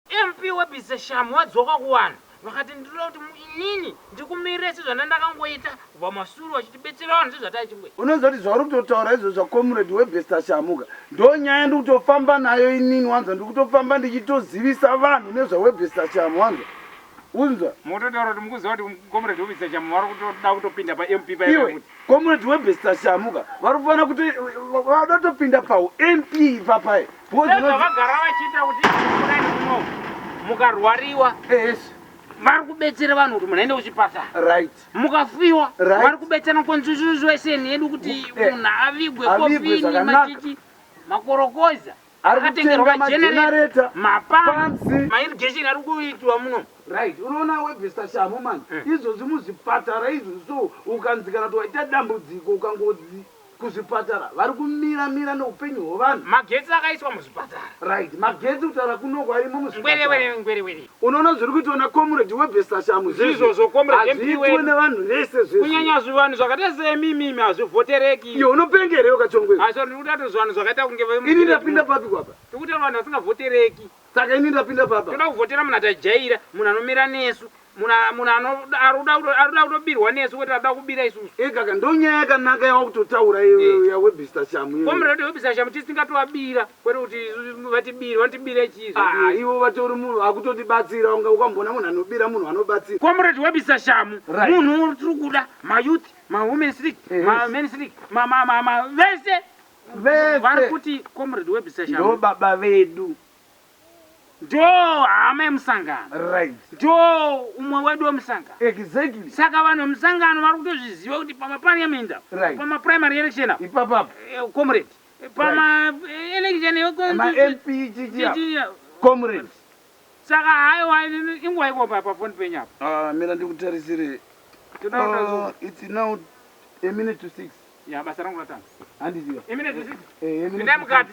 MP weBise Shamu wadzoka kuvanhu vakati ndinoda kuti mu inini ndikumirire sezvandandakangoita kubva masure wachitibetsera vanhu sezvataichingoi. Unoziva kuti zvauri kutotaura izvo zvaComrade weBester Shamu ka ndonyaya yandiri kutofamba nayo inini wanzwa ndiri kutofamba ndichitozivisa vanhu nezvaweBester Shamu wanzwa unzwa. Mototaura kuti mukuziva kuti Comrade weBester Shamu vari kutoda kutopinda paMP paya iwe kuti. Comrade weBester Shamu ka vari kufanira kuto vada kutopinda pahu MP ipapaya. nezvavagara vachiita kuti kudai muno mukarwariwa vari kubetsera vanhu kuti munoenda kuchipatara right mukafiwa right. vari kubetsera constitution yedu kuti eh. munhu avigwe kofini machichi makorokoza akatengerwa magenerator mapamps mairrigation ari kuitwa muno right unoona webvesta shamu mani eh. izvozvi muzvipatara izvozvo ukanzikana kuti waita dambudziko ukangozi kuzvipatara vari kumira mira neupenyu hwevanhu. Magetsi akaiswa muzvipatara. Right magetsi kutaura kunoko arimo muzvipatara. Ngwerewere ngwerewere. Unoona zviri kuitwa na comrade webestashamu zvese izvi. Ndizvozvo comrade MP wedu. Hazviitwe nevanhu vese zvese. Kunyanya zvivanhu zvakaita seimimi imi hazvivhotereki. Iyo unopenga here iwe kachongwe iwe. Sorry ndiri kutaura kuti zvivanhu zvakaita kunge. Ini ndapinda papi kwapa. Tiri kutaura vanhu vasingavhotereki. Saka ini ndapinda papa. Toda kuvhotera munhu atajaira, munhu anomira nesu, munhu a- munhu ano- aruda kuto- aruda kutobirwa nesu kwete aruda kubira isusu. Ekaka ndonyaya yakanaka yawakutotaura iwe Eh. uya webhista shamu iwe. Comrade webisa shamu tisi tingatovabira kwete kuti isu- vatibire vanotibira chii Ah, zvadii? iwe vatori munhu akutotibatsira unga ukamboona munhu anobira munhu anobatsira. comrade webisa shamu Right. munhu tiri kuda mayouth mawomens league Yes. mamen's league ma- ma- ma- ma- vese Vese. Vari kuti comrade webisa shamhu. Ndo baba vedu. Ndo hama yemusangano. Right. Ndo umwe wedu wemusangano. Exactly. Saka vanhu vemusangano vari kutozviziva kuti pama parliament apo. Right. Pama primary election apo. Ipapo apo. Eh, comrade. Eh, pama right. Eh, election yo. Ma MP chichi apo. Comrade. Saka hayo hayo inguva iko pa pa phone penyu apo. Ah, mina ndikutarisire. Tinoda. Uh, it's now a minute to six. Ya basa rangu ratanga. Handiziva. Imi nezvisisi. Eh, imi. Ndai mukati.